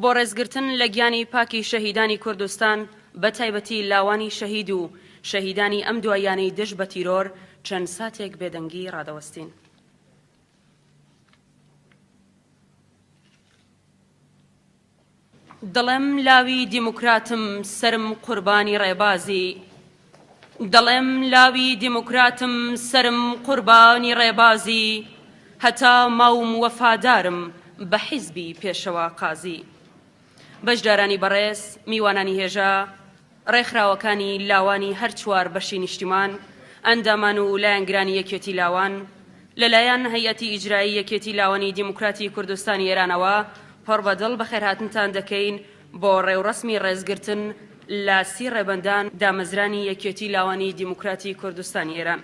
بۆ ڕێزگرتن لە گیانی پاکی شەهیدانی کوردستان بە تایبەتی لاوانی شەهید و شەهیدانی ئەم دواییانەی دژ بە تیرۆر چەند ساتێک بێدەنگی ڕادەوەستین. دڵم لاوی دیموکراتم سەرم قوربانی ڕێبازی. دەڵێم لاوی دیموکراتم سەرم قوربانی ڕێبازی هەتا ماوم وەفادارم بە حیزبی پێشەوا قازی بەشدارانی بەڕێز میوانانی هێژا ڕێکخراوەکانی لاوانی هەر چوار بەشی نیشتیمان ئەندامان و لایەنگرانی یەکێتی لاوان لەلایەن هەیئەتی ئیجرایی یەکێتی لاوانی دیموکراتی کوردستانی ئێرانەوە پڕ بە دڵ بەخێرهاتنتان دەکەین بۆ ڕێوڕەسمی ڕێزگرتن لە سی ڕێبەندان دامەزرانی یەکێتی لاوانی دیموکراتی کوردستانی ئێران.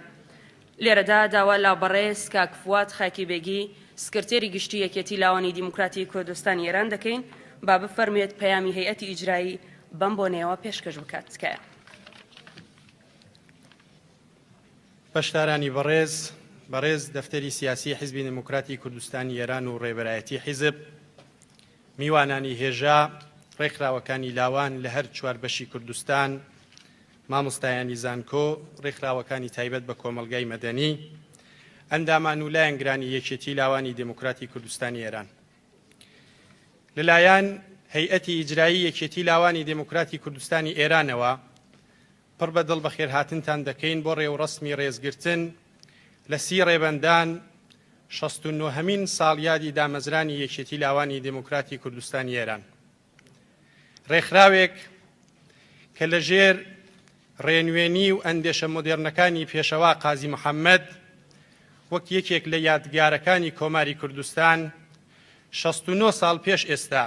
لێرەدا داوا لە بەڕێز کاک فواد خاکی بێگی سکرتێری گشتی یەکێتی لاوانی دیموکراتی کوردستانی ئێران دەکەین با بفەرموێت پەیامی هەیئەتی ئیجرایی بەم بۆنەیەوە پێشکەش بکات تکایە. بەشدارانی بەڕێز، بەڕێز دەفتەری سیاسی حیزبی دێموکراتی کوردستانی ئێران و ڕێبەرایەتی حیزب، میوانانی هێژا، ڕێکخراوەکانی لاوان لە هەر چوار بەشی کوردستان، مامۆستایانی زانکۆ، ڕێکخراوەکانی تایبەت بە کۆمەڵگای مەدەنی، ئەندامان و لایەنگرانی یەکێتی لاوانی دێموکراتی کوردستانی ئێران لەلایەن هەیئەتی ئیجرایی یەکێتی لاوانی دێموکراتی کوردستانی ئێرانەوە پڕ بە دڵ بەخێرهاتنتان دەکەین بۆ ڕێوڕەسمی ڕێزگرتن لە سی ڕێبەندان شەست و نۆهەمین ساڵیادی دامەزرانی یەکێتی لاوانی دێموکراتی کوردستانی ئێران. ڕێکخراوێک کە لە ژێر ڕێنوێنی و ئەندێشە مۆدێرنەکانی پێشەوا قازی محەممەد وەک یەکێک لە یادگارەکانی کۆماری کوردستان 69 ساڵ پێش ئێستا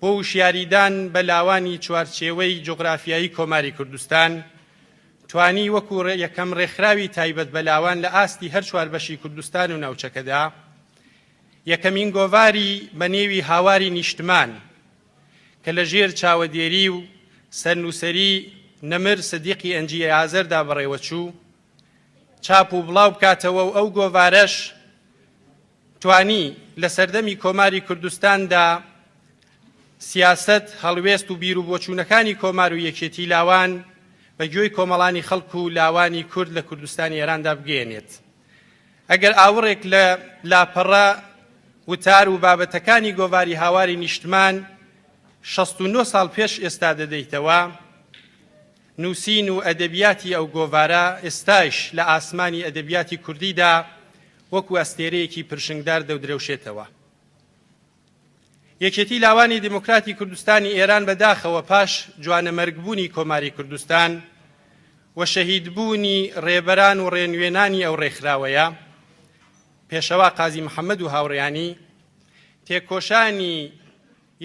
بۆ وشیاریدان بە لاوانی چوارچێوەی جوغرافیایی کۆماری کوردستان، توانی وەکو یەکەم ڕێکخراوی تایبەت بە لاوان لە ئاستی هەر چوار بەشی کوردستان و ناوچەکەدا، یەکەمین گۆڤاری بە نێوی هاواری نیشتمان کە لە ژێر چاوەدێری و سەرنووسەری نەمر سدیقی ئەنجی ئازەردا بەڕێوەچوو، چاپ و بڵاو بکاتەوە و ئەو گۆڤارەش، توانی لە سەردەمی کۆماری کوردستاندا سیاسەت، هەڵوێست و بیر و بۆچوونەکانی کۆمار و یەکێتی لاوان بە گوێی کۆمەڵانی خەڵک و لاوانی کورد لە کوردستانی ئێراندا بگەیەنێت. ئەگەر ئاوڕێک لە لاپەڕە وتار و بابەتەکانی گۆڤاری هاواری نیشتمان شەست و نۆ ساڵ پێش ئێستا دەدەیتەوە، نووسین و ئەدەبیاتی ئەو گۆڤارە ئێستایش لە ئاسمانی ئەدەبیاتی کوردیدا وەکوو ئەستێرەیەکی پرشنگدار دەودرەوشێتەوە. یەکێتی لاوانی دیموکراتی کوردستانی ئێران بە داخەوە پاش جوانەمەرگبوونی کۆماری کوردستان و شەهیدبوونی ڕێبەران و ڕێنوێنانی ئەو ڕێکخراوەیە پێشەوا قازی محەممەد و هاوڕیانی تێکۆشانی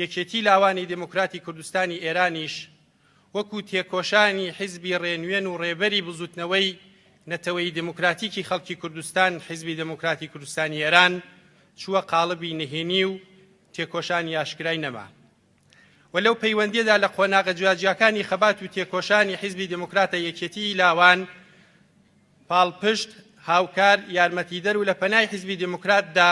یەکێتی لاوانی دیموکراتی کوردستانی ئێرانیش وەکو تێکۆشانی حیزبی ڕێنوێن و ڕێبەری بزوتنەوەی نەتەوەیی دێموکراتیکی خەڵکی کوردستان، حیزبی دێموکراتی کوردستانی ئێران، چووە قاڵبی نهێنی و تێکۆشانی ئاشکرای نەما. و لەو پەیوەندیەدا لە قۆناغە جیاجیاکانی خەبات و تێکۆشانی حیزبی دێموکراتە یەکێتیی لاوان، پاڵپشت، هاوکار، یارمەتیدەر و لە پەنای حیزبی دێموکراتدا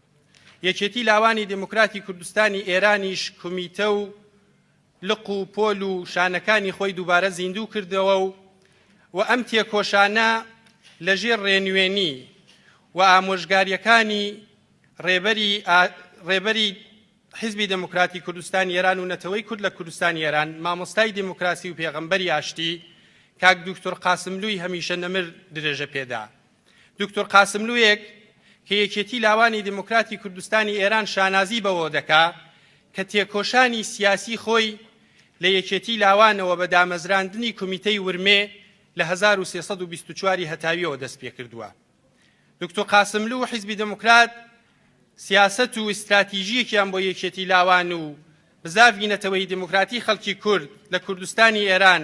یەکێتی لاوانی دێموکراتی کوردستانی ئێرانیش کومیتە و لق و پۆل و شانەکانی خۆی دووبارە زیندوو کردەوە و و ئەم تێکۆشانە لەژێر ڕێنوێنی و ئامۆژگاریەکانی ڕێبەری ڕێبەری حیزبی دموکراتی کوردستانی ئێران و نەتەوەی کورد لە کوردستانی ئێران مامۆستای دیموکراسی و پێغەمبەری ئاشتی کاک دوکتور قاسملووی هەمیشە نەمر درێژە پێدا دوکتور قاسملوویەک کە یەکێتی لاوانی دیموکراتی کوردستانی ئێران شانازی بەوە دەکا کە تێکۆشانی سیاسی خۆی لە یەکێتی لاوانەوە بە دامەزراندنی کومیتەی ورمێ لە 1324 هەتاویەوە دەست پێ کردووە دوکتور قاسملو و حیزبی دموکرات سیاست و ئیستراتیژیەکیان بۆ یەکێتی لاوان و بزاڤی نەتەوەی دیموکراتی خەڵکی کورد لە کوردستانی ئێران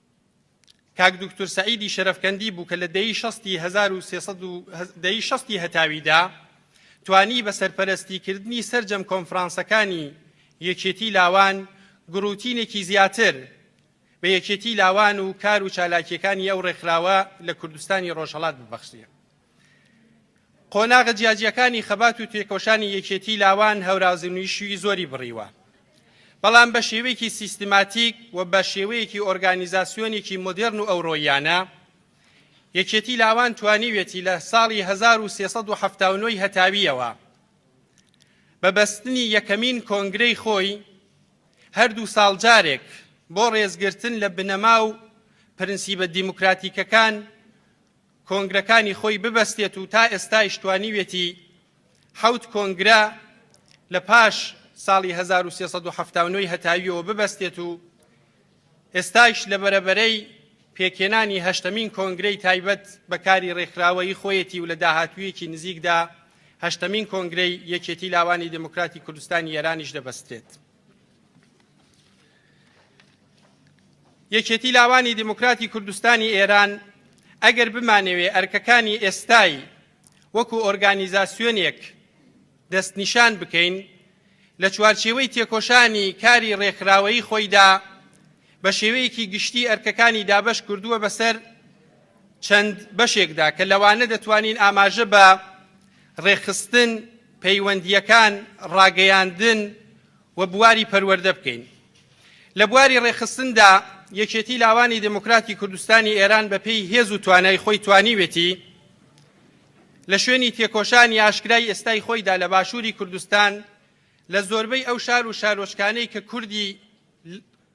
کاک دوکتور سەعیدی شەرەفکەندی بوو کە لە دەی شەستی هەزار و سێسەد و هەز- دەی شەستی هەتاویدا توانی بە سەرپەرەستیکردنی سەرجەم کۆنفرانسەکانی یەکێتی لاوان گڕوتینێکی زیاتر بە یەکێتی لاوان و کار و چالاکییەکانی ئەو ڕێکخراوە لە کوردستانی ڕۆژهەڵات ببەخشێ. قۆناغە جیاجیەکانی خەبات و تێکۆشانی یەکێتی لاوان هەورازنویشی زۆری بڕیوە بەڵام بە شێوەیەکی سیستماتیک و بە شێوەیەکی ئۆرگانیزاسیۆنێکی مدرن و ئەورۆیانە یەکێتی لاوان توانیوێتی لە ساڵی 1370 هەتاویەوە بە بەستنی یەکەمین کۆنگرەی خۆی هەردوو ساڵ جارێک بۆ ڕێزگرتن لە بنەما و پرنسیبە دیموکراتیکەکان کۆنگرەکانی خۆی ببەستێت و تا ئێستایش توانیوێتی حەوت کۆنگرە لە پاش ساڵی 1379 هەتاویەوە ببەستێت و ئێستایش لە بەرەبەرەی پێکێنانی هەشتەمین کۆنگرەی تایبەت بەکاری ڕێکخراوەی خۆیەتی و لە داهاتوویەکی نزیکدا هەشتەمین کۆنگرەی یەکێتی لاوانی دموکراتی کوردستانی ئێرانیش دەبەسترێت. یەکێتی لاوانی دیموکراتی کوردستانی ئێران ئەگەر بمانەوێ ئەرکەکانی ئێستای وەکو ئۆرگانیزاسیۆنێک دەستنیشان بکەین لە چوارچێوەی تێکۆشانی کاری ڕێکخراوەیی خۆیدا بە شێوەیەکی گشتی ئەرکەکانی دابش کردووە بەسەر چەند بەشێکدا کە لەوانە دەتوانین ئاماژە بە ڕێکخستن، پەیوەندییەکان، ڕاگەیاندن و بواری پەروەردە بکەین. لە بواری ڕێکخستندا یەکێتی لاوانی دموکراتی کوردستانی ئێران بەپێی هێز و توانای خۆی توانیوێتی لە شوێنی تێکۆشانی ئاشکرای ئێستای خۆیدا لە باشووری کوردستان لە زۆربەی ئەو شار و شارۆچکانەی کە کوردی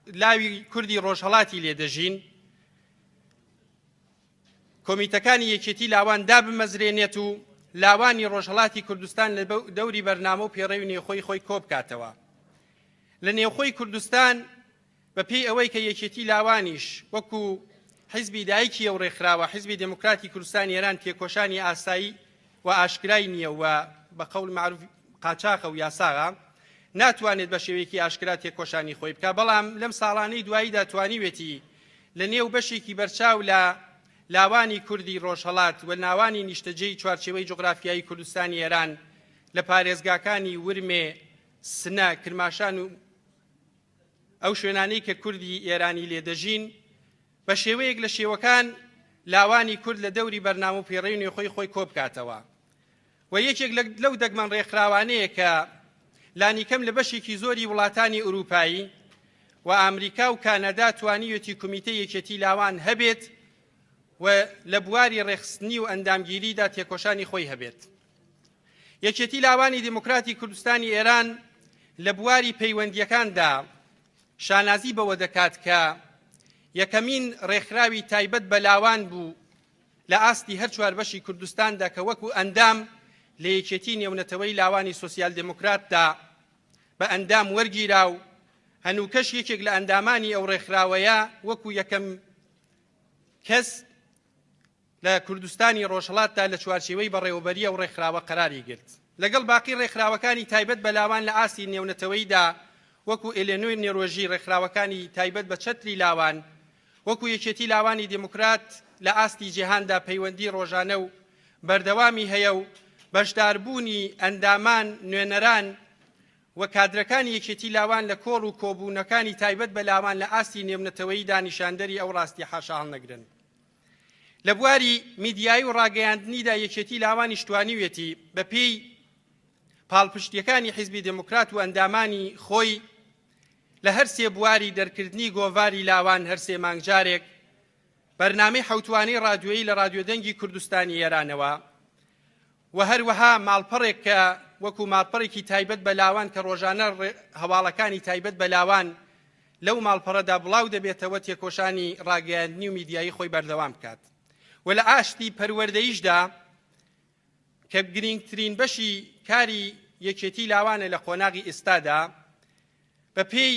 لاوی کوردی ڕۆژهەڵاتی لێدەژین کۆمیتەکانی یەکێتی لاوان دابمەزرێنێت و لاوانی ڕۆژهڵاتی کوردستان لە دەوری بەرنامە و پێڕەوی نێخۆی خۆی کۆبکاتەوە لە نێوخۆی کوردستان بە پێی ئەوەی کە یەکێتی لاوانیش وەکو حیزبی دایکی ئەو ڕێکخراوە حیزبی دموکراتی کوردستان ئێران تێکۆشانی ئاسایی و ئاشکرای نییە و بە قەول معروف قاچاخە و یاساغا ناتوانێت بە شێوەیەکی ئاشکرا تێکۆشانی خۆی بکە بەڵام لەم ساڵانەی دواییدا توانیوێتی لە نێو بەشێکی بەرچاو لە لاوانی کوردی ڕۆژهەڵات و ناوانی نیشتەجێی چوارچێوەی جوغرافیایی کوردستانی ئێران لە پارێزگاکانی ورمێ، سنە، کرماشان و ئەو شوێنانەی کە کوردی ئێرانی لێ دەژین بە شێوەیەک لە شێوەکان لاوانی کورد لە دەوری بەرنامە و پێڕەی نوێخۆی خۆی کۆبکاتەوە. و یەکێک لەو دەگمەن ڕێکخراوانەیە کە لانیکەم لە بەشێکی زۆری وڵاتانی ئورووپایی و ئامریکا و کانەدا توانیوێتی کومیتە یەکێتی لاوان هەبێت و لە بواری ڕێخستنی و ئەندامگیریدا تێکۆشانی خۆی هەبێت یەکێتی لاوانی دیموکراتی کوردستانی ئێران لە بواری پەیوەندیەکاندا شانازی بەوە دەکات کە یەکەمین ڕێکخراوی تایبەت بە لاوان بوو لە ئاستی هەر چوار بەشی کوردستاندا کە وەکو ئەندام لە یەکێتی نێونەتەوەی لاوانی سۆسیال دێموکراتدا بە ئەندام وەرگیرا و هەنووکەش یەکێک لە ئەندامانی ئەو ڕێکخراوەیە وەکو یەکەم کەس لە کوردستانی ڕۆژهڵاتدا لە چوارچێوەی بەڕێوەبەریە و ڕێکخراوە قەراری گرت لەگەڵ باقی ڕێکخراوەکانی تایبەت بەلاوان لە ئاستی نێونەتەوەیدا وەکو ئێلێنۆی نێرۆژی ڕێکخراوەکانی تایبەت بە چەتری لاوان وەکو یەکێتی لاوانی دیموکرات لە ئاستی جیهاندا پەیوەندی ڕۆژانە و بەردەوامی هەیە و بەشداربوونی ئەندامان، نوێنەران و کادرەکانی یەکێتی لاوان لە کۆڕ و کۆبوونەکانی تایبەت بە لاوان لە ئاستی نێونەتەوەییدا نیشاندەری ئەو ڕاستیە حاشاهەڵنەگرن. لە بواری میدیایی و ڕاگەیاندنیدا یەکێتی لاوانیش توانیویەتی بەپێی پاڵپشتیەکانی حیزبی دێموکرات و ئەندامانی خۆی لە هەر سێ بواری دەرکردنی گۆڤاری لاوان هەر سێ مانگ جارێک بەرنامەی حەوتوانەی ڕادیۆیی لە ڕادیۆ دەنگی کوردستانی ئێرانەوە و هەروەها ماڵپەڕێک کە وەکو ماڵپەڕێکی تایبەت بە لاوان کە ڕۆژانە هەواڵەکانی تایبەت بە لاوان لەو ماڵپەڕەدا بڵاو دەبێتەوە تێکۆشانی ڕاگەیاندنی و میدیایی خۆی بەردەوام بکات و لە ئاشتی پەروەردەیشدا کە گرینگترین بەشی کاری یەکێتی لاوانە لە قۆناغی ئێستادا بە پێی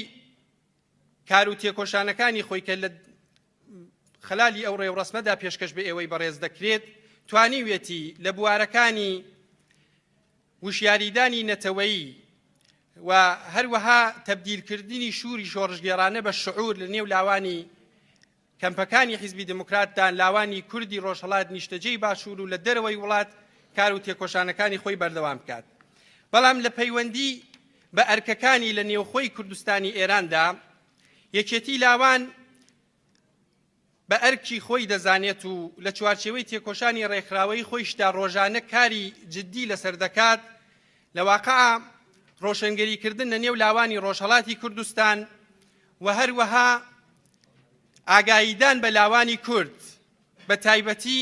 کار و تێکۆشانەکانی خۆی کە لە خلالی ئەو ڕێوڕسمەدا پێشکەش بە ئێوەی بەڕێز دەکرێت توانیویەتی لە بوارەکانی وشیاریدانی نەتەوەیی و هەروەها تبدیلکردنی شووری شۆڕژگێرانە بە شعور لە نێو لاوانی کەمپەکانی حیزبی دێموکرات دا لاوانی کوردی ڕۆژهەڵات نیشتەجێی باشوور و لە دەرەوەی وڵات کار و تێکۆشانەکانی خۆی بەردەوام بکات بەڵام لە پەیوەندی بە ئەرکەکانی لە نێوخۆی کوردستانی ئێران دا یەکێتی لاوان بە ئەرکی خۆی دەزانێت و لە چوارچێوەی تێکۆشانی ڕێکخراوەی خۆیشدا ڕۆژانە کاری جددی لەسەر دەکات لە واقع ڕۆشنگەریکردن لە نێو لاوانی ڕۆژهڵاتی کوردستان و هەروەها ئاگاییدان بە لاوانی کورد بە تایبەتی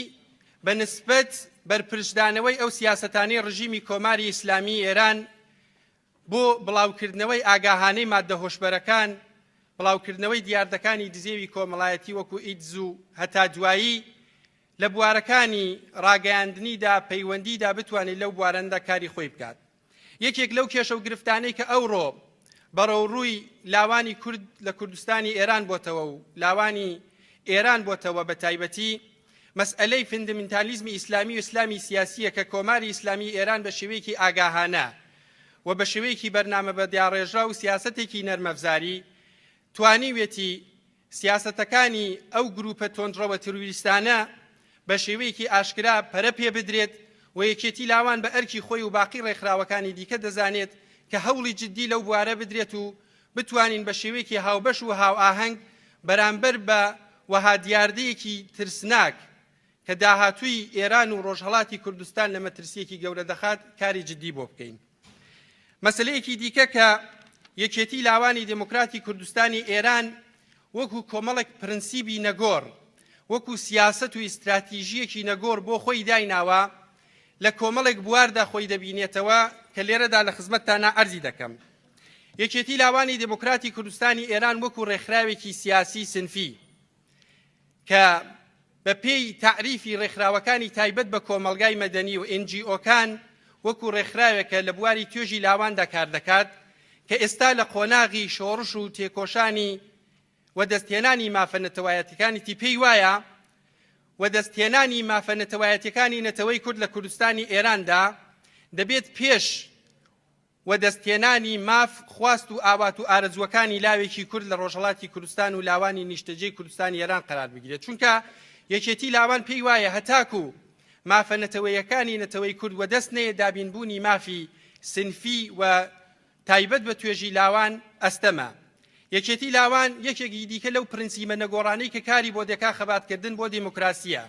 بە نسبەت بەرپرچدانەوەی ئەو سیاسەتانەی ڕژیمی کۆماری ئیسلامی ئێران بۆ بڵاوکردنەوەی ئاگاهانەی مادە هۆشبەرەکان بڵاوکردنەوەی دیاردەکانی دزێوی کۆمەڵایەتی وەکو ئیدز و هەتا دوایی لە بوارەکانی ڕاگەیاندنیدا پەیوەندیدا بتوانێت لەو بوارەندا کاری خۆی بکات یەکێک لەو کێشە و گرفتانەی کە ئەوڕۆ بەڕەوڕووی لاوانی کورد لە کوردستانی ئێران بۆتەوە و لاوانی ئێران بۆتەوە بە تایبەتی مەسئلەی فندمنتالیزمی ئیسلامی و ئیسلامی سیاسیە کە کۆماری ئیسلامی ئێران بە شێوەیەکی ئاگاهانە و بە شێوەیەکی بەرنامە بە دیاڕێژرا و سیاستێکی نەرمەفزاری توانیوێتی سیاسەتەکانی ئەو گرووپە تۆندڕەوە تروریستانە بە شێوەیەکی ئاشکرا پەرە پێ بدرێت و یەکێتی لاوان بە ئەرکی خۆی و باقی ڕێکخراوەکانی دیکە دەزانێت کە هەوڵی جددی لەو بوارە بدرێت و بتوانین بە شێوەیەکی هاوبەش و هاوئاهەنگ بەرامبەر بە وەها دیاردەیەکی ترسناک کە داهاتووی ئێران و ڕۆژهەڵاتی کوردستان لە مەترسییەکی گەورە دەخات کاری جددی بۆ بکەین. مەسەلەیەکی دیکە کە یەکێتی لاوانی دموکراتی کوردستانی ئێران وەکو کۆمەڵێک پرنسیبی نەگۆڕ وەکو سیاست و ئیستراتیژیەکی نەگۆڕ بۆ خۆی دایناوە لە کۆمەڵێک بواردا خۆی دەبینێتەوە کە لێرەدا لە خزمەتتانە ئەرزی دەکەم یەکێتی لاوانی دموکراتی کوردستانی ئێران وەکو ڕێکخراوێکی سیاسی سنفی کە بەپێی تەعریفی ڕێکخراوەکانی تایبەت بە کۆمەڵگای مەدەنی و ئنجیۆکان وەکو ڕێکخراوێکە لە بواری توێژی لاواندا کار دەکات کە ئێستا لە قۆناغی شۆڕش و تێکۆشانی و دەستهێنانی مافە نەتەوایەتەکانی تیپی وایە و دەستهێنانی مافە نەتەوایەتەکانی نەتەوەی کورد لە کوردستانی ئێراندا دەبێت پێش وەدەستهێنانی ماف، خواست و ئاوات و ئارەزووەکانی لاوێکی کورد لە ڕۆژهەڵاتی کوردستان و لاوانی نیشتەجێی کوردستانی ئێران قەرار بگیرێت، چونکە یەکێتی لاوان پێی وایە هەتاکوو مافە نەتەوەیەکانی نەتەوەی کورد وەدەست نەیەت دابین بوونی مافی سنفی و تایبەت بە توێژی لاوان ئەستەمە. یەکێتی لاوان یەکێکی دیکە لەو پرنسیبە نەگۆڕانەی کە کاری بۆ دەکا خەبات کردن بۆ دێمۆکراسییە،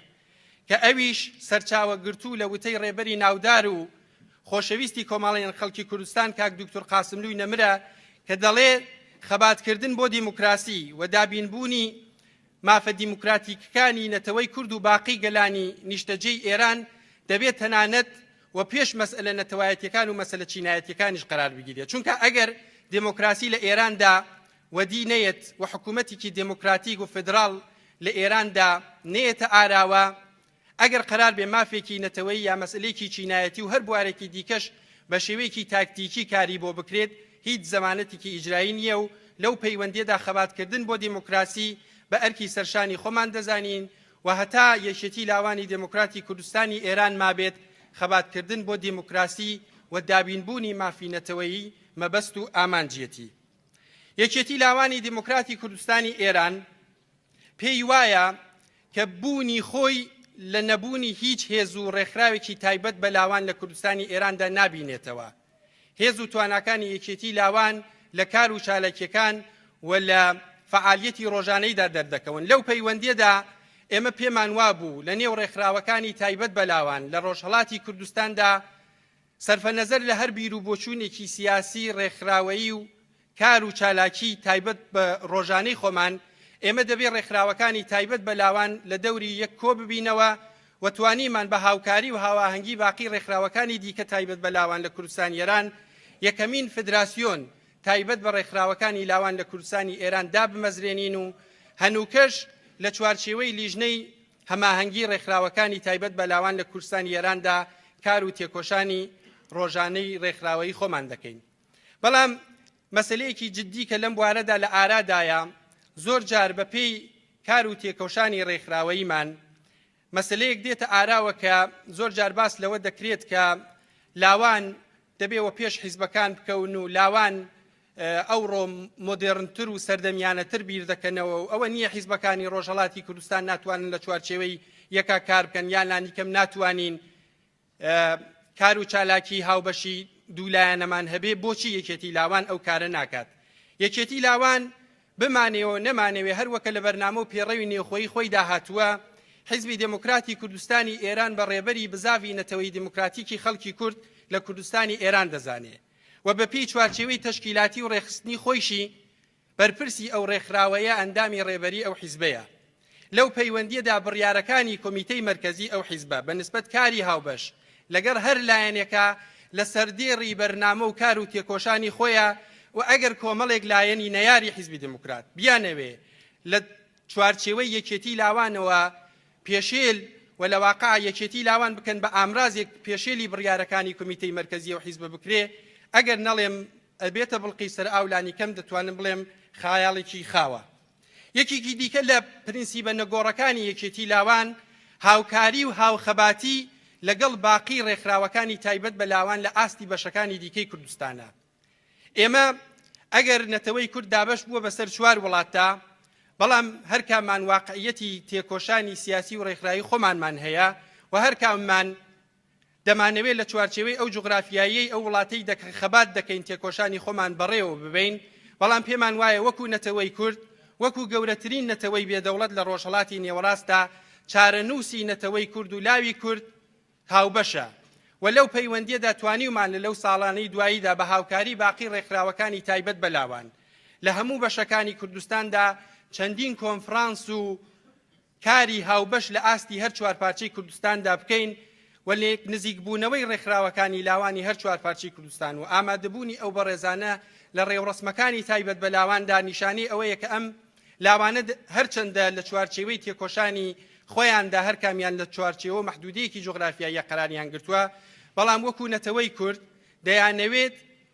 کە ئەویش سەرچاوە گرتوو لە وتەی ڕێبەری ناودار و خۆشەویستی کۆمەاڵیان خەڵکی کوردستان کاک دوکتور قاسملووی نەمرە کە دەڵێ خەباتکردن بۆ دیموکراسی و دابینبوونی مافە دیموکراتیکەکانی نەتەوەی کورد و باقی گەلانی نیشتەجێی ئێران دەبێت تەنانەت و پێش مەسئلە نەتەوایەتەکان و مەسلە چینایەتەکانیش قرار بگیرێت چونکە ئەگەر دموکراسی لە ئێراندا وەدی نەیەت و حکوومەتێکی دێمۆکراتیک و فیدراڵ لە ئێراندا نەیەتە ئاراوە، ئەگەر قەرار بێ مافێکی نەتەوەیی یا مەسەلەیەکی چینایەتی و هەر بوارێکی دیکەش بە شێوەیەکی تاکتیکی کاری بۆ بکرێت، هیچ زەمانەتێکی ئیجرایی نییە و لەو پەیوەندییەدا خەباتکردن بۆ دێمۆکراسی بە ئەرکی سەرشانی خۆمان دەزانین و هەتا یەکێتی لاوانی دێمۆکراتی کوردستانی ئێران مابێت خەباتکردن بۆ دێمۆکراسی و دابینبوونی مافی نەتەوەیی مەبەست و ئامانجیەتی. یەکێتی لاوانی دیموکراتی کوردستانی ئێران پێی وایە کە بوونی خۆی لە نەبوونی هیچ هێز و ڕێکخراوێکی تایبەت بە لاوان لە کوردستانی ئێراندا نابینێتەوە هێز و تواناکانی یەکێتی لاوان لە کار و چالاکیەکان و لە فعالیەتی ڕۆژانەیدا دەردەکەون لەو پەیوەندیەدا ئێمە پێمان وابوو لە نێو ڕێکخراوەکانی تایبەت بەلاوان لە ڕۆژهڵاتی کوردستاندا سەرفەنەزەر لە هەر بیر و بۆچوونێکی سیاسی، ڕێکخراوەیی و کار و چالاکیی تایبەت بە ڕۆژانەی خۆمان، ئێمە دەبێ ڕێکخراوەکانی تایبەت بە لاوان لە دەوری یەک کۆ ببینەوە و توانیمان بە هاوکاری و هاواهەنگی باقی ڕێکخراوەکانی دیکە تایبەت بە لاوان لە کوردستانی ئێران یەکەمین فدراسیۆن تایبەت بە ڕێکخراوەکانی لاوان لە کوردستانی ئێران دابمەزرێنین و هەنووکەش لە چوارچێوەی لیژنەی هەماهەنگی ڕێکخراوەکانی تایبەت بە لاوان لە کوردستانی ئێراندا کار و تێکۆشانی ڕۆژانەی ڕێکخراوەیی خۆمان دەکەین بەڵام مەسلەیەکی جددی کە لەم بوارەدا لە ئارادایە زۆر جار بە پێی کار و تێکۆشانی ڕێکخراوەییمان مەسلەیەک دێتە ئاراوە کە زۆر جار باس لەوە دەکرێت کە لاوان دەبێ وەپێش حیزبەکان بکەون و لاوان ئەوڕۆ مۆدێڕنتر و سەردەمیانەتر بیر دەکەنەوە و ئەوە نییە حیزبەکانی ڕۆژهەڵاتی کوردستان ناتوانن لە چوارچێوەی یەکا کار بکەن یان لانیکەم ناتوانین کار و چالاکی هاوبەشی دوولایەنەمان هەبێ بۆچی یەکێتی لاوان ئەو کارە ناکات یەکێتی لاوان بمانەوێ و نەمانەوێ هەر وەکە لە بەرنامە و پێڕەوی نێوخۆیی خۆیدا هاتووە، حیزبی دێموکراتی کوردستانی ئێران بە ڕێبەری بزاڤی نەتەوەی دێموکراتیکی خەڵکی کورد لە کوردستانی ئێران دەزانێ و بە پێی چوارچێوەی تەشکیلاتی و ڕێکخستنی خۆیشی بەرپرسی ئەو ڕێکخراوەیە، ئەندامی ڕێبەری ئەو حیزبەیە. لەو پەیوەندییەدا بڕیارەکانی کۆمیتەی مەرکەزی ئەو حیزبە بە نسبەت کاری هاوبەش لەگەر هەر لایەنێکا لە سەردێڕی بەرنامە و کار و تێکۆشانی خۆیە و ئەگەر کۆمەڵێک لایەنی نەیاری حیزبی دێموکرات بیانەوێ لە چوارچێوەی یەکێتی لاوانەوە پێشێل و لە واقع یەکێتی لاوان بکەن بە ئامرازێک پێشێلی بڕیارەکانی کۆمیتەی مەرکەزی و حیزبە بکرێ ئەگەر نەڵێم ئەبێتە بڵقی سەر ئاولانی کەم دەتوانم بڵێم خایاڵێکی خاوە. یەکێکی دیکە لە پرنسیبە نەگۆڕەکانی یەکێتی لاوان هاوکاری و هاوخەباتی لەگەڵ باقی ڕێکخراوەکانی تایبەت بە لاوان لە ئاستی بەشەکانی دیکەی کوردستانە ئێمە ئەگەر نەتەوەی کورد دابش بووە بەسەر چوار وڵاتدا بەڵام هەرکامان واقعیەتی تێکۆشانی سیاسی و ڕێکخراوی خۆمانمان هەیە و هەرکامان دەمانەوێت لە چوارچێوەی ئەو جوغرافیاییەی ئەو وڵاتەی دەکەین خەبات دەکەین تێکۆشانی خۆمان بەڕێوە ببەین، بەڵام پێمان وایە وەکو نەتەوەی کورد، وەکو گەورەترین نەتەوەی بێ دەوڵەت لە ڕۆژهەڵاتی نێوەڕاستدا چارەنووسی نەتەوەی کورد و لاوی کورد هاوبەشە و لەو پەیوەندیەدا توانیومان لە لەو ساڵانەی دواییدا بە هاوکاری باقی ڕێکخراوەکانی تایبەت بە لاوان لە هەموو بەشەکانی کوردستاندا چەندین کۆنفرانس و کاری هاوبەش لە ئاستی هەر چوار پارچەی کوردستاندا بکەین و لێک نزیکبوونەوەی ڕێکخراوەکانی لاوانی هەر چوار پارچەی کوردستان و ئامادەبوونی ئەو بەڕێزانە لە ڕێوڕەسمەکانی تایبەت بە لاواندا نیشانەی ئەوەیە کە ئەم لاوانە هەرچەندە لە چوارچێوەی تێکۆشانی خۆیاندا هەر کامیان لە چوارچێوە مەحدودەیەکی جوغرافیاییە قەراریان گرتووە بەڵام وەکو نەتەوەی کورد دەیانەوێت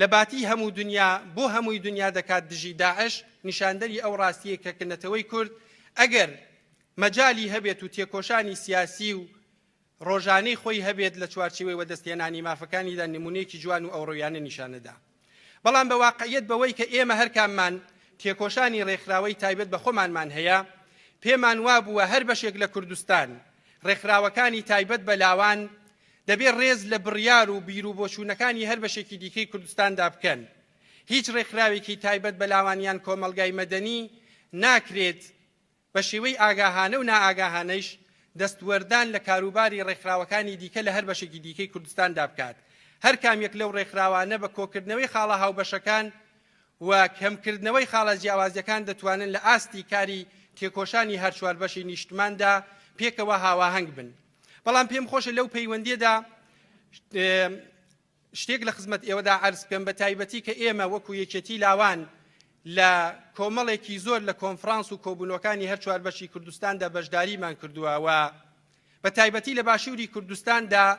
لە باتی هەموو دنیا بۆ هەمووی دنیا دەکات دژی داعش، نیشاندەری ئەو ڕاستییەی کە کە نەتەوەی کورد ئەگەر مەجالی هەبێت و تێکۆشانی سیاسی و ڕۆژانەی خۆی هەبێت لە چوارچیوەی وەدەستهێنانی مافەکانیدا نمونەیەکی جوان و ئەوڕۆیانە نیشانەدا. بەڵام بە واقعیەت بەوەی کە ئێمە هەرکاممان تێکۆشانی ڕێکخراوەی تایبەت بە خۆمانمان هەیە، پێمان وابووە هەر بەشێک لە کوردستان ڕێکخراوەکانی تایبەت بە لاوان دەبێت ڕێز لە بڕیار و بیر و بۆچوونەکانی هەر بەشێکی دیکەی کوردستاندا بکەن. هیچ ڕێکخراوێکی تایبەت بە لاوان یان کۆمەڵگای مەدەنی ناکرێت بە شێوەی ئاگاهانە و نائاگاهانەیش دەستوەردان لە کاروباری ڕێکخراوەکانی دیکە لە هەر بەشێکی دیکەی کوردستاندا بکات. هەر کام یەک لەو ڕێکخراوانە بە کۆکردنەوەی خاڵە هاوبەشەکان و کەمکردنەوەی خاڵە جیاوازیەکان دەتوانن لە ئاستی کاری تێکۆشانی هەر چوار بەشی نیشتماندا پێکەوە هاواهەنگ بن. بەڵام پێم خۆشە لەو پەیوەندیەدا شتێک لە خزمەت ئێوەدا عرض بکەم بە تایبەتی کە ئێمە وەکو یەکێتی لاوان لە کۆمەڵێکی زۆر لە کۆنفرانس و کۆبوونەکانی هەر چوار بەشی کوردستاندا بەشداریمان کردووە و بە تایبەتی لە باشووری کوردستاندا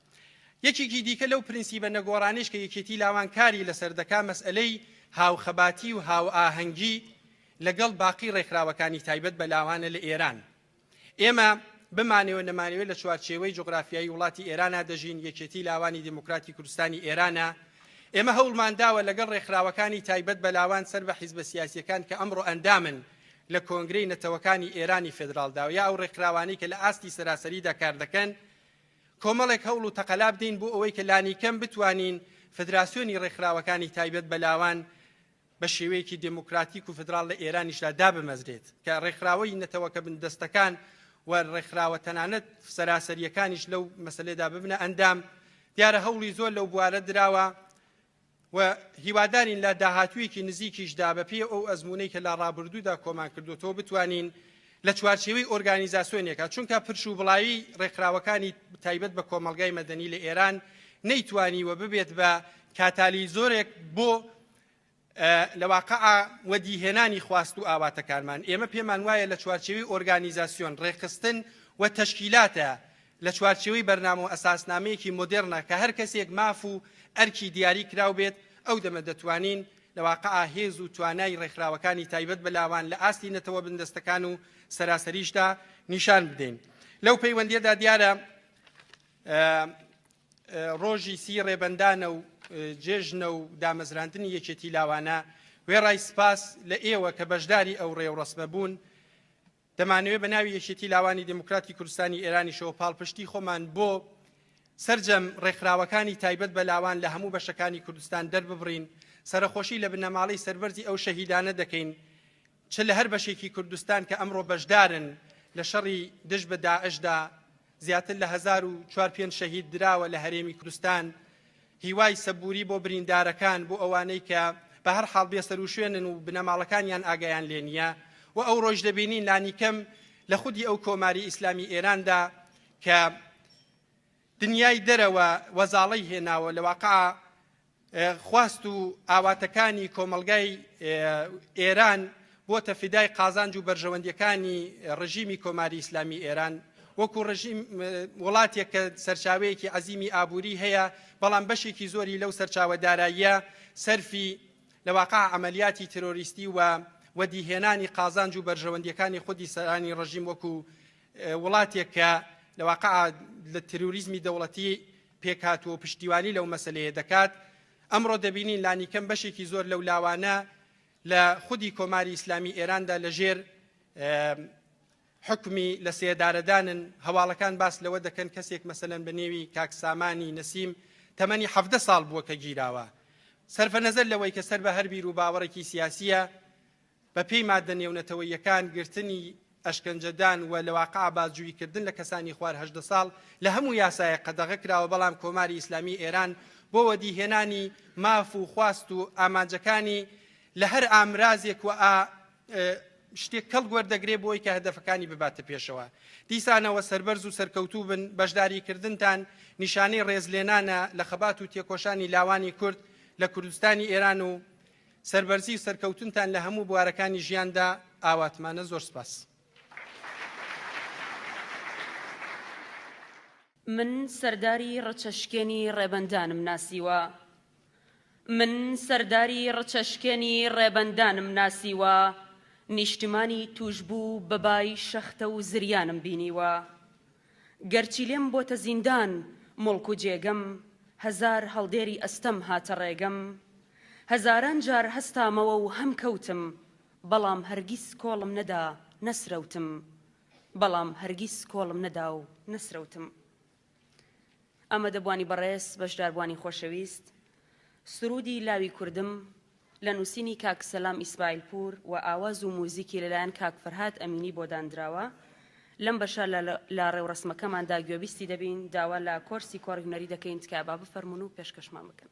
یەکێکی دیکە لەو پرنسیبە نەگۆڕانەیش کە یەکێتی لاوان کاری لەسەر دەکا مەسئەلەی هاوخەباتی و هاوئاهەنگی لەگەڵ باقی ڕێکخراوەکانی تایبەت بە لاوانە لە ئێران ئێمە بمانەوە نەمانەوە لە چوارچێوەی جغرافیایی وڵاتی ئێرانە دەژین یەکێتی لاوانی دیموکراتی کوردستانی ئێرانە ئێمە هەوڵمان داوە لەگەڵ ڕێکخراوەکانی تایبەت بە لاوان سەر بە حیزبە سیاسیەکان کە ئەمڕۆ ئەندامن لە کۆنگرەی نەتەوەکانی ئێرانی فدرالداوە یا ئەو ڕێکخراوانی کە لە ئاستی سەراسەریدا کار دەکەن کۆمەڵێک هەوڵ و تەقەلا بدەین بۆ ئەوەی کە لانیکەم بتوانین فدراسیۆنی ڕێکخراوەکانی تایبەت بە لاوان بە شێوەیەکی دێموکراتیک و فدراڵ لە ئێرانیشدا دابمەزرێت کە ڕێکخراوەی نەتەوەکە بندەستەکان و ڕێکخراوە تەنانەت سەراسەریەکانیش لەو مەسلێدا ببنە ئەندام دیارە هەوڵی زۆر لەو بوارە دراوە و هیوادارین لە داهاتوویەکی نزیکیشدا بەپێی ئەو ئەزموونەی کە لە ڕابردوودا کۆمان کردوەوە بتوانین لە چوارچێوەی ئۆرگانیزاسۆنێکە چونکە پرش و بڵاوی ڕێکخراوەکانی تایبەت بە کۆمەلگای مەدەنی لە ئێران نەیتوانی و ببێت بە کاتالی زۆرێک بۆ لە واقع وەدیهێنانی خواست و ئاواتەکانمان ئێمە پێمان وایە لە چوارچێوی ئۆرگانیزاسیۆن ڕێخستن و تەشکیلاتە لە چوارچێوەی بەرنامە و ئەساسنامەیەکی مۆدێڕنە کە هەر کەسێک ماف و ئەرکی دیاری کراو بێت، ئەو دەمە دەتوانین لە واقعا هێز و توانای ڕێکخراوەکانی تایبەت بە لاوان لە ئاستی نەتەوە بندەستەکان و سەراسەریشدا نیشان بدەین. لەو پەیوەندیەدا دیارە ڕۆژی سی ڕێبەندانە و جێژنە و دامەزراندنی یەکێتی لاوانە، وێڕای سپاس لە ئێوە کە بەشداری ئەو ڕێوڕەسمە بوون، دەمانەوێت بە ناوی یەکێتی لاوانی دێموکراتی کوردستانی ئێرانیشەوە پاڵپشتی خۆمان بۆ سەرجەم ڕێکخراوەکانی تایبەت بە لاوان لە هەموو بەشەکانی کوردستان دەرببڕین سەرخۆشی لە بنەماڵەی سەربەرزی ئەو شەهیدانە دەکەین چ لە هەر بەشێکی کوردستان کە ئەمڕۆ بەشدارن لە شەڕی دژ بە داعشدا زیاتر لە هەزار و چوار پێنج شەهید دراوە لە هەرێمی کوردستان هیوای سەبووری بۆ بریندارەکان بۆ ئەوانەی کە بە هەر حاڵ بێسەروشوێنن و بنەماڵەکانیان ئاگایان لێ نییە و ئەو ڕۆژ دەبینین لانیکەم لە خودی ئەو کۆماری ئیسلامی ئێراندا کە دنیای دەرەوە وەزاڵی هێناوە لە واقع خواست و ئاواتەکانی کۆمەڵگای ئێران بۆتە فیدای قازانج و بەرژەوەندیەکانی ڕژیمی کۆماری ئیسلامی ئێران وەکو ڕژیم وڵاتێک کە سەرچاوەیەکی عەزیمی ئابووری هەیە بەڵام بەشێکی زۆری لەو سەرچاوە داراییە سەرفی لە واقع عملیاتی ترۆریستی و وەدیهێنانی قازانج و بەرژەوەندیەکانی خودی سەرانی ڕژیم وەکو وڵاتێک کە لە واقع لە تروریزمی دەوڵەتی پێکهاتووە و پشتیوانی لەو مەسەلەیە دەکات، ئەمڕۆ دەبینین لانیکەم بەشێکی زۆر لەو لاوانە لە خودی کۆماری ئیسلامی ئێراندا لە ژێر حکمی لە سێدارەدانن هەواڵەکان باس لەوە دەکەن کەسێک مەسەن بە نێوی کاکسامانی نەسیم تەمەنی حەفدە ساڵ بووە کە گیراوە سەرفە نەزەر لەوەی کە سەر بە هەربیر و باوەڕێکی سیاسیە بە پێی ماددە نێونەتەوەییەکان گرتنی، ئەشکەنجەدان، و لە واقع بازجویی کردن لە کەسانی خوار هەژدە ساڵ لە هەموو یاسایەک قەدەغە کراوە بەڵام کۆماری ئیسلامیی ئێران بۆ وەدی هێنانی ماف و خواست و ئامانجەکانی لە هەر ئامرازێک و ئا شتێک کەڵک وەردەگرێ بۆی کە هەدەفەکانی بباتە پێشەوە دیسانەوە سەربەرز و سەرکەوتوو بن بەشداری کردنتان نیشانەی ڕێزلێنانە لە خەبات و تێکۆشانی لاوانی کورد لە کوردستانی ئێران و سەربەرزی و سەرکەوتنتان لە هەموو بوارەکانی ژیاندا ئاواتمانە زۆر سپاس. من سەرداری ڕچە شکێنی ڕێبەندانم ناسیوە من سەرداری ڕچە شکێنی ڕێبەندانم ناسیوە نیشتمانی توشبوو بە بای شەختە و زریانم بینیوە گەرچی لێم بۆتە زیندان موڵک و جێگەم هەزار هەڵدێری ئەستەم هاتە ڕێگەم هەزاران جار هەستامەوە و هەم کەوتم بەڵام هەرگیز کۆڵم نەدا نەسرەوتم بەڵام هەرگیز کۆڵم نەدا و نەسرەوتم ئامادەبوانی بەڕێز بەشداربوانی خۆشەویست سروودی لاوی کوردم لە نووسینی کاک سەلام ئیسماعیلپوور و ئاواز و موزیکی لەلایەن کاک فەرهاد ئەمینی بۆ داندراوە. لەم بەشە لە ڕێوڕەسمەکەماندا گوێبیستی دەبین، داوا لە کۆرسی کۆڕی هونەری دەکەین تکایە با بفەرموون و پێشکەشمان بکەن.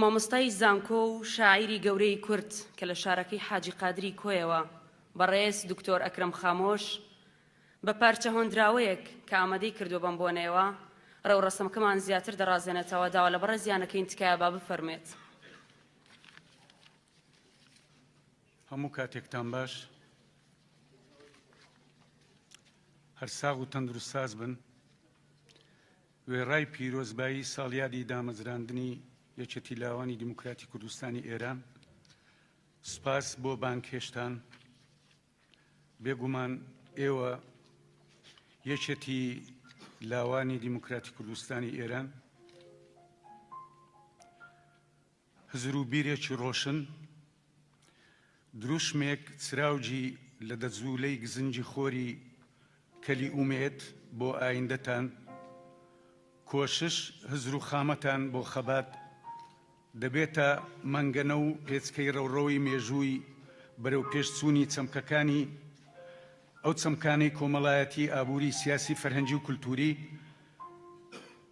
مامۆستای زانکۆ و شاعیری گەورەی کورد کە لە شارەکەی حاجی قادری کۆیەوە بەڕێز دکتۆر ئەکرەم خامۆش بە پارچە هۆندراوەیەک کە ئامادەی کردووە بەم بۆنەیەوە ڕێوڕەسمەکەمان زیاتر دەڕازێنێتەوە داوا لە بەڕێزیانەکەین تکایە با بفەرمێت. هەموو کاتێکتان باش هەر ساغ و تەندروست ساز بن وێڕای پیرۆزبایی ساڵیادی دامەزراندنی یەکێتی لاوانی دیموکراتی کوردستانی ئێران سپاس بۆ بانکێشتان بێگومان ئێوە یەکێتی لاوانی دیموکراتی کوردستانی ئێران هزر و بیرێکی ڕۆشن، دروشمێک چراوگی لە دە جوولەی گزنگی خۆری کەلی ئومێد بۆ ئایندەتان، کۆشش، هزر و خامەتان بۆ خەبات دەبێتە مەنگەنە و پێچکەی ڕەوڕەوەی مێژووی بەرەوپێشچوونی چەمکەکانی، ئەو چەمکانەی کۆمەڵایەتی، ئابووری، سیاسی، فەرهەنگی و کولتووری،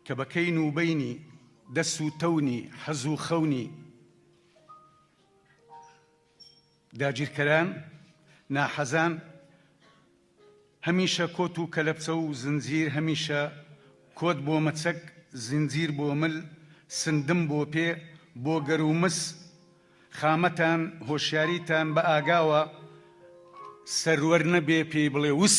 کە بە کەین و بەینی دەس و تەونی حەز و خەونی داگیرکەران، ناحەزان، هەمیشە کۆت و کەلەپچە و زنجیر، هەمیشە کۆت بۆ مەچەک، زنجیر بۆ مل، سندم بۆ پێ، بۆ گەر و مس، خامەتان، هۆشیاریتان بە ئاگاوە سەروەر نەبێ پێی بڵێ وس.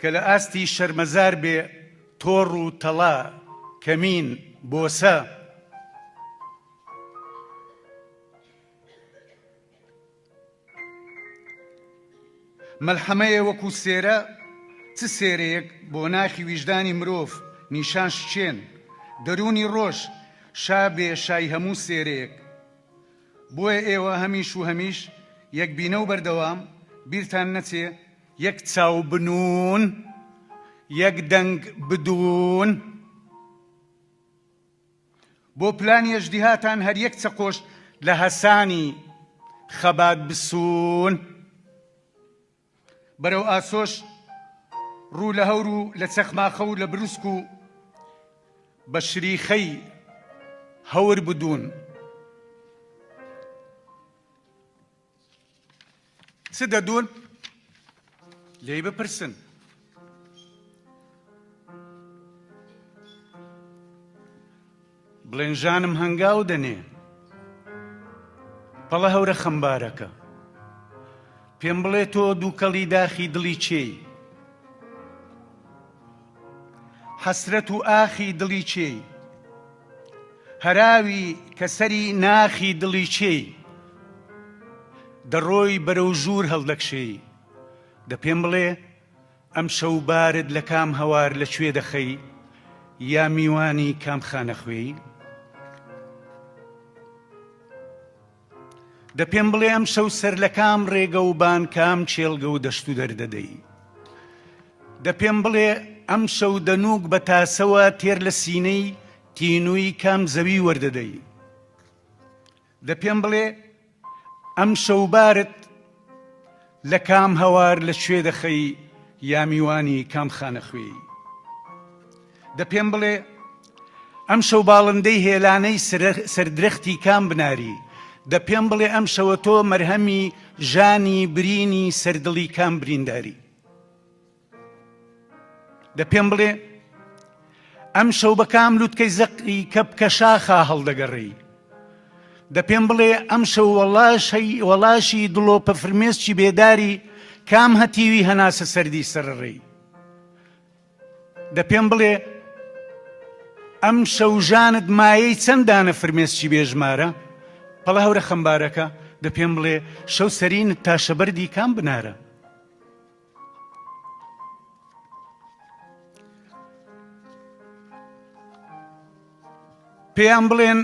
کە لە ئاستی شەرمەزار بێ تۆڕ و تەڵا، کەمین، بۆسە، مەلحەمەیە وەکوو سێرە، چ سێرەیەک بۆ ناخی ویژدانی مرۆڤ نیشان شکێن، دەروونی ڕۆژ شا بێ شای هەموو سێرەیەک. بۆیە ئێوە هەمیش و هەمیش یەکبینە و بەردەوام بیرتان نەچێ، یەک چاو بنوون یەک دەنگ بدوون بۆ پلانی ئەژدیهاتان هەر یەک چەقۆش لە هەسانی خەبات بسوون بەرەو ئاسۆش ڕوو لە هەور و لە چەخماخە و لە بروسک و بە شریخەی هەور بدوون. چ دەدوون؟ لێی بپرسن. بڵێن ژانم هەنگاو دەنێ پەڵە هەورە خەمبارەکە پێم بڵێ تۆ دووکەڵی داخی دڵی چێی حەسرەت و ئاخی دڵی چێی هەراوی کە سەری ناخی دڵی چێی دەڕۆی بەرەو ژوور هەڵدەکشێی دە پێم بڵێ ئەمشەو بارد لە کام هەوار لە کوێ دەخەی یا میوانی کام خانەخوێی دە پێم بڵێ ئەمشەو سەر لە کام ڕێگە و بان کام کێڵگە و دەشت و دەر دەدەی؟ دە پێم بڵێ ئەمشەو دەنووک بە تاسەوە تێر لە سینەی تینووی کام زەوی وەردەدەی؟ دە پێم بڵێ ئەمشەو بارت لە کام هەوار لە کوێ دەخەی یا میوانی کام خانە خوێی دە پێم بڵێ ئەم شەو باڵندەی هێلانەی سەردرەختی کام بناری دە پێم بڵێ ئەم شەوە تۆ مەرهەمی ژانی برینی سەردڵی کام برینداری دە پێم بڵێ ئەمشەو بە کام لوتکەی زەقی کەپکە شاخا هەڵدەگەڕێی دە پێم بڵێ ئەمشەو وەڵاشی وەڵاشی دڵۆپە فرمێسکی بێداری کام هەتیوی هەناسە سەردی سەرڕێی دە پێم بڵێ ئەم شەوژانت مایەی چەندانە فرمێسکی بێژمارە پەڵە هەورە خەمبارەکە دە پێم بڵێ شەو سەرینت تاشەبەردی کام بنارە پێیان بڵێن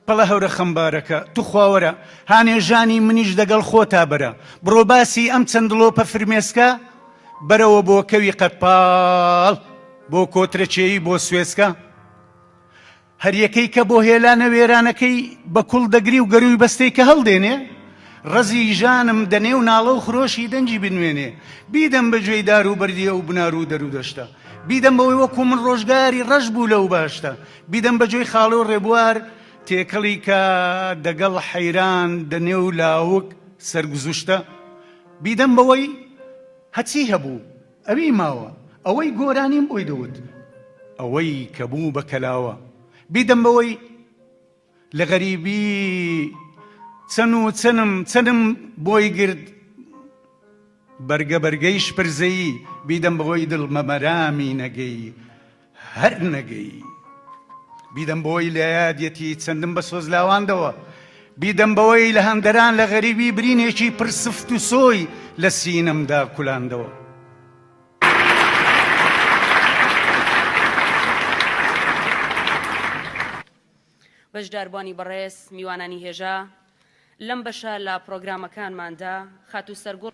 پڵە هەورە خەمبارەکە توخواوەرە هانێژانی منیش دەگەڵ خۆتا بەرە بڕۆ باسی ئەم چەند دڵۆپە فرمێسکە بەرەوە بۆ کەوی قەتپاڵ بۆ کۆترەچێی بۆ سوێسکە هەریەکەی کە بۆ هێلانە وێرانەکەی بە کوڵ دەگری و گەرووی بەستێی کە هەڵدێنێ، ڕەزی ژانم دە نێو ناڵە و خرۆشی دەنگی بنوێنێ، بیدەم بە گوێی دار و بەردی ئەو بنار و دەر و دەشتە، بیدەم بەوەی وەکوو من ڕۆژگاری ڕەش بوو لەو باشتە، بیدەم بە گوێی خاڵۆ ڕێبوار تێکەڵی کە دەگەڵ حەیران دە نێو لاوک سەرگوزشتە، بیدەم بەوەی هە چی هەبوو، ئەوی ماوە ئەوەی گۆرانیم بۆی دەوت. ئەوەی کە بوو بە کەلاوە بیدەم بەوەی لە غەریبی چەن و چەنم چەنم بۆی گرت بەرگە بەرگەی شپرزەیی بیدەم بەوەی دڵ بە مەرامی نەگەی. هەر نەگەی بیدەم بەوەی لە یادیەتی چەندم بە سۆز لاواندەوە بیدەم بەوەی لە هەندەران لە غەریبی برینێکی پر سفت و سۆی لە سینەمدا کولاندەوە بەشداربووانی بەڕێز میوانانی هێژا لەم بەشە لە پرۆگرامەکانماندا خاتوو سەرگوڕ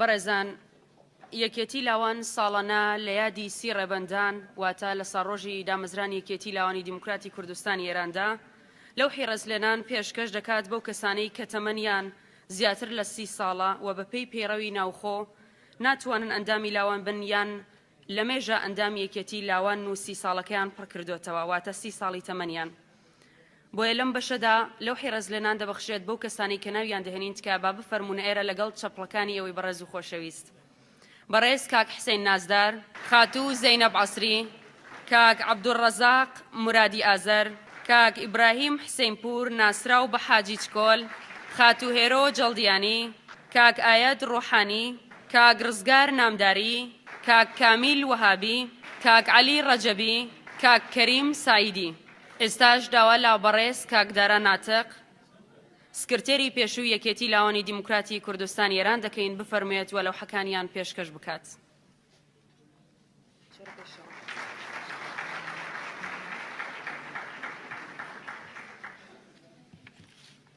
بەڕێزان یەکێتی لاوان ساڵانە لە یادی سی ڕێبەندان واتە لە ساڕۆژی دامەزرانی یەکێتی لاوانی دیموکراتی کوردستانی ئێراندا لەو حیڕەزلێنان پێشکەش دەکات بەو کەسانەی کە تەمەنیان زیاتر لە سی ساڵە و بەپێی پەیڕەوی ناوخۆ ناتوانن ئەندامی لاوان بن یان لەمێژە ئەندامی یەکێتی لاوان و سی ساڵەکەیان پڕکردۆتەوە واتە سی ساڵی تەمەنیان بۆیە لەم بەشەدا لەوحی ڕێزلێنان دەبەخشرێت بەو کەسانەی کە ناویان دەهێنین تکایە با بفەرموون ئێرە لەگەڵ چەپڵەکانی ئێوەی بەڕێز و خۆشەویست بەڕێز کاک حسین نازدار خاتوو زەینەب عەسری کاک عەبدولڕەزاق مرادی ئازەر کاک ئیبراهیم حسینپور ناسراو بە حاجی چکۆل خاتوو هێرۆ جەڵدیانی کاک ئایەد ڕۆحانی کاک ڕزگار نامداری، کاک کامیل وەهابی، کاک عەلی ڕەجەبی، کاک کەریم سەعیدی. ئێستاش داوا لە بەڕێز کاک دارا ناتق، سکرتێری پێشووی یەکێتی لاوانی دیموکراتی کوردستانی ئێران دەکەین بفەرموێت و لەوحەکانیان پێشکەش بکات.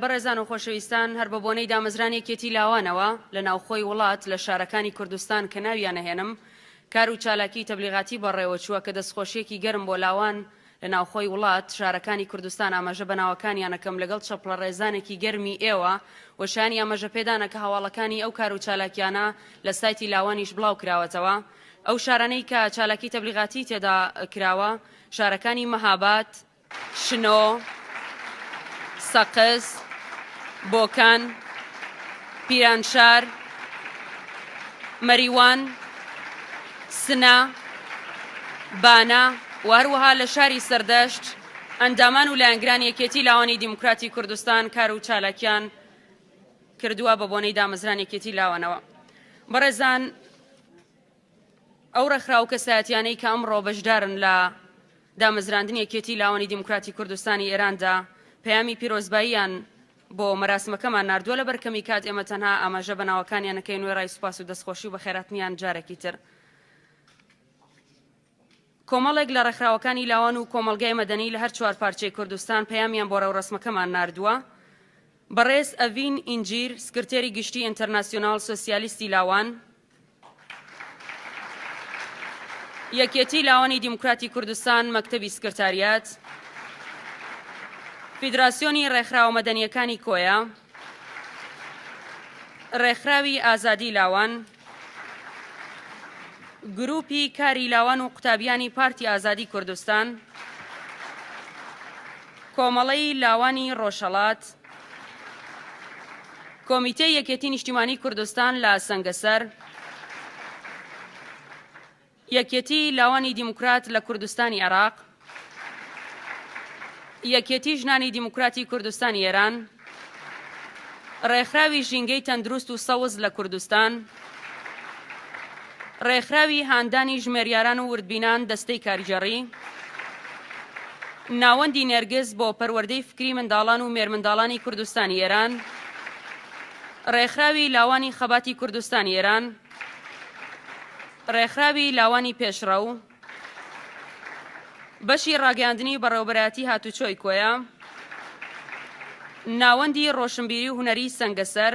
بەڕێزان و خۆشەویستان، هەر بە بۆنەی دامەزرانی یەکێتی لاوانەوە لە ناوخۆی وڵات لە شارەکانی کوردستان کە ناویان ئەهێنم، کار و چالاکیی تەبلیغاتی بەڕێوە چووە کە دەستخۆشییەکی گەرم بۆ لاوان لە ناوخۆی وڵات، شارەکانی کوردستان ئاماژە بە ناوەکانیان ئەکەم لەگەڵ چەپڵەڕێزانێکی گەرمی ئێوە و شایانی ئاماژە پێدانە کە هەواڵەکانی ئەو کار و چالاکیانە لە سایتی لاوانیش بڵاو کراوەتەوە. ئەو شارانەی کە چالاکیی تەبلیغاتی تێدا کراوە، شارەکانی مەهاباد، شنۆ، سەقز، بۆکان، پیرانشار، مەریوان، سنە، بانە و هەروەها لە شاری سەردەشت ئەندامان و لایەنگرانی یەکێتی لاوانی دیموکراتی کوردستان کار و چالاکیان کردووە بە بۆنەی دامەزرانی یەکێتی لاوانەوە بەڕێزان ئەو ڕێکخراو کەسایەتیانەی کە ئەمڕۆ بەشدارن لە دامەزراندنی یەکێتی لاوانی دیموکراتی کوردستانی ئێراندا پەیامی پیرۆزباییان بۆ مەراسمەکەمان ناردووە لە بەرکەمی کات ئێمە تەنها ئاماژە بە ناوەکانیان نەکەین وێڕای سوپاس و دەستخۆشی و بەخێراتنیان جارێکی تر کۆمەڵێک لە ڕێکخراوەکانی لاوان و کۆمەڵگای مەدەنی لە هەر چوار پارچەی کوردستان پەیامیان بۆ ڕێوڕەسمەکەمان ناردووە. بەڕێز ئەڤین ئینجیر، سکرتێری گشتی ئینتەرناسیۆنال سۆسیالیستی لاوان، یەکێتی لاوانی دیموکراتی کوردستان، مەکتەبی سکرتاریات، فیدراسیۆنی ڕێکخراوە مەدەنییەکانی کۆیە، ڕێکخراوی ئازادی لاوان، گروپی کاری لاوان و قوتابیانی پارتی ئازادی کوردستان کۆمەڵەی لاوانی ڕۆژهەڵات کۆمیتەی یەکێتی نیشتیمانی کوردستان لە سەنگەسەر یەکێتی لاوانی دیموکرات لە کوردستانی عێراق، یەکێتی ژنانی دیموکراتی کوردستانی ئێران، ڕێکخراوی ژینگەی تەندروست و سەوز لە کوردستان، ڕێکخراوی هاندانی ژمێریاران و وردبینان دەستەی کارگێڕی، ناوەندی نێرگز بۆ پەروەردەی فکری منداڵان و مێرمنداڵانی کوردستانی ئێران، ڕێکخراوی لاوانی خەباتی کوردستانی ئێران، ڕێکخراوی لاوانی پێشڕەو، بەشی ڕاگەیاندنی بەڕێوەبەرایەتی هاتوچۆی کۆیە، ناوەندی ڕۆشنبیری و هونەری سەنگەسەر،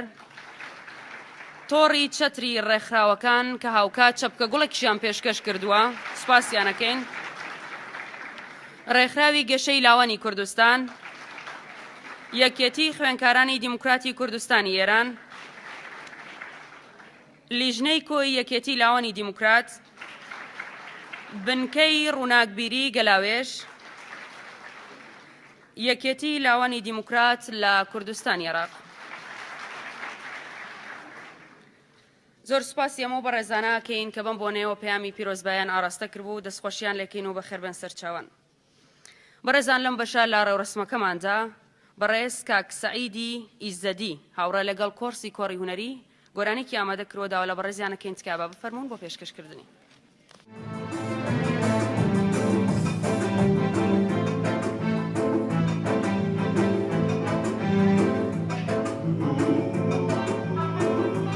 تۆڕی چەتری ڕێکخراوەکان کە هاوکات چەپکە گوڵێکیشیان پێشکەش کردووە، سوپاسیانەکەین. ڕێکخراوی گەشەی لاوانی کوردستان، یەکێتی خوێنکارانی دیموکراتی کوردستانی ئێران، لیژنەی کۆی یەکێتی لاوانی دیموکرات بنکەی ڕووناکبیری گەلاوێژ یەکێتی لاوانی دیموکرات لە کوردستان عێراق زۆر سپاسی ئەمە بەڕێزانە کەین کە بم بۆنەوە پەیامی پیرۆزبایان ئاراستە کردبوو دەستخۆشیان لەکەین و بەخێربن سەرچاوان بەڕێزان لەم بەشە لە ڕێوڕەسمەکەماندا بەڕێز کاک سەعیدی ئیزەدی هاوڕێ لەگەڵ کۆڕسی کۆڕی هونەری گۆرانێکی ئامادە کروە داوا لە بەڕێزیان ئەکەین تکایە با بفەرموون بۆ پێشکەشکردنی.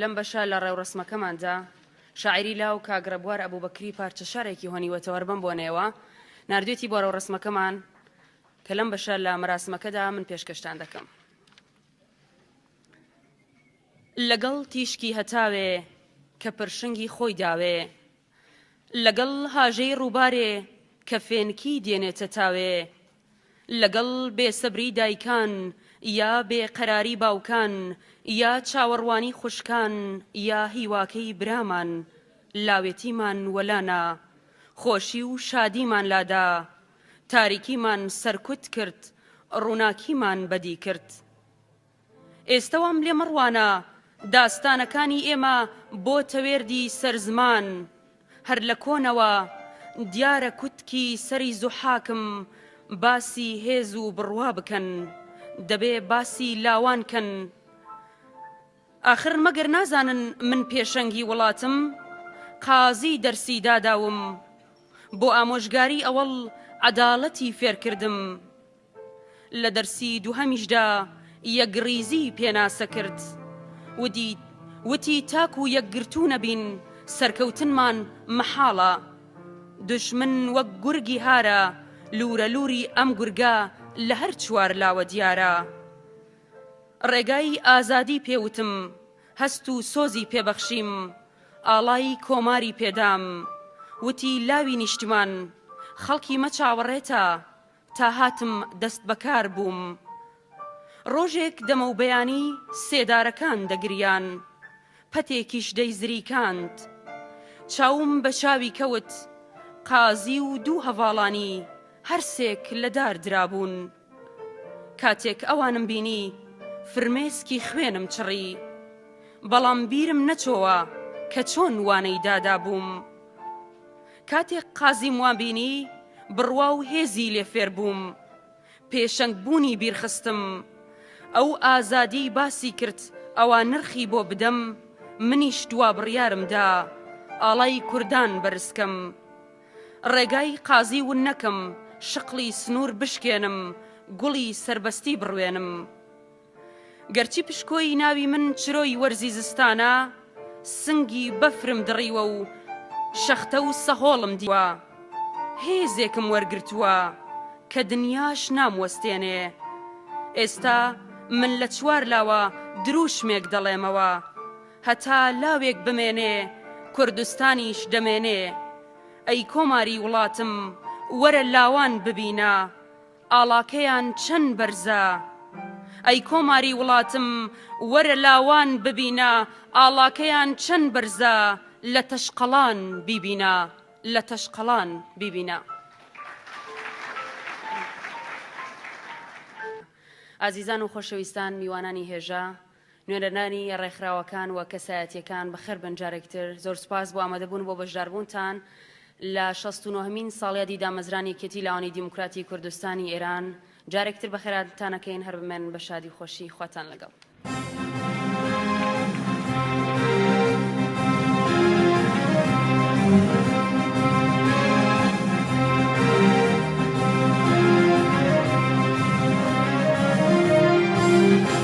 لەم بەشە لە ڕێوڕەسمەکەماندا شاعیری لاو کاک ڕێبوار ئەبوبەکری پارچە شعرێکی هۆنیوەتەوەر بەم بۆنەیەوە ناردوێتی بۆ ڕێوڕەسمەکەمان کە لەم بەشە لە مەراسمەکەدا من پێشکەشتان دەکەم. لەگەڵ تیشکی هەتاوێ کە پرشنگی خۆی داوێ لەگەڵ هاژەی ڕووبارێ کە فێنکی دێنێتە تاوێ لەگەڵ بێسەبری دایکان یا بێ قەراری باوکان یا چاوەڕوانی خوشکان یا هیواکەی برامان لاوێتیمان وەلانا خۆشی و شادیمان لادا تاریکیمان سەرکوت کرد ڕووناکیمان بەدی کرد. ئێستەوام لێ مەڕوانە داستانەکانی ئێمە بۆ تەوێردی سەر زمان هەر لە کۆنەوە دیارە کوتکی سەری زوحاکم باسی هێز و بڕوا بکەن دەبێ باسی لاوان کەن ئاخر مەگەر نازانن من پێشەنگی وڵاتم قازی دەرسی داداوم بۆ ئامۆژگاری ئەوەڵ عەداڵەتی فێرکردم لە دەرسی دووهەمیشدا یەکڕیزی پێناسە کرد ودیت وتی تاکو یەکگرتوو نەبین سەرکەوتنمان مەحاڵە. دوژمن وەک گورگی هارە، لوورە لووری ئەم گورگە لە هەر چوار لاوە دیارە. ڕێگای ئازادی پێ وتم، هەست و سۆزی پێ بەخشیم، ئاڵای کۆماری پێ دام. وتی لاوی نیشتمان، خەڵکی مە چاوەڕێتە، تا هاتم دەست بەکار بووم ڕۆژێک دەمەوبەیانی سێدارەکان دەگریان پەتێکیش دەیزریکاند چاوم بە چاوی کەوت قازی و دوو هەڤاڵانی هەرسێک لە دار درابوون کاتێک ئەوانم بینی فرمێسکی خوێنم چڕی بەڵام بیرم نەچۆوە کە چۆن وانەی دادابووم. کاتێک قازیم وام بینی، بڕوا و هێزی لێ فێر بووم. پێشەنگ بوونی بیر خستم. ئەو ئازادیی باسی کرد ئەوا نرخی بۆ بدەم، منیش دوا بڕیارم دا ئاڵای کوردان بەرز کەم. ڕێگای قازی ون نەکەم، شقڵی سنوور بشکێنم، گوڵی سەربەستی بڕوێنم. گەرچی پشکۆی ناوی من چرۆی وەرزی زستانە، سنگی بەفرم دڕیوە و شەختە و سەهۆڵم دیوە. هێزێکم وەرگرتووە کە دنیاش ناموەستێنێ. ئێستا من لە چوار لاوە درووشمێک دەڵێمەوە. هەتا لاوێک بمێنێ، کوردستانیش دەمێنێ. ئەی کۆماری وڵاتم، وەرە لاوان ببینە. ئاڵاکەیان چەن بەرزە ئەی کۆماری وڵاتم وەرە لاوان ببینە ئاڵاکەیان چەن بەرزە لە تەشقەڵان بیبینە لە تەشقەڵان بیبینە. ئازیزان و خۆشەویستان میوانانی هێژا نوێنەرانی ڕێکخراوەکان و کەسایەتییەکان بەخێربێن جارێکی تر، زۆر سوپاس بۆ ئامادەبوون و بۆ بەشداربوونتان لە شەست و نۆهەمین ساڵیادی دامەزرانی یەکێتی لاوانی دیموکراتی کوردستانی ئێران، جارێکی تر بەخێراتان ئەکەین، هەر بمێنن بە شادی و خۆشی، خواتان لەگەڵ.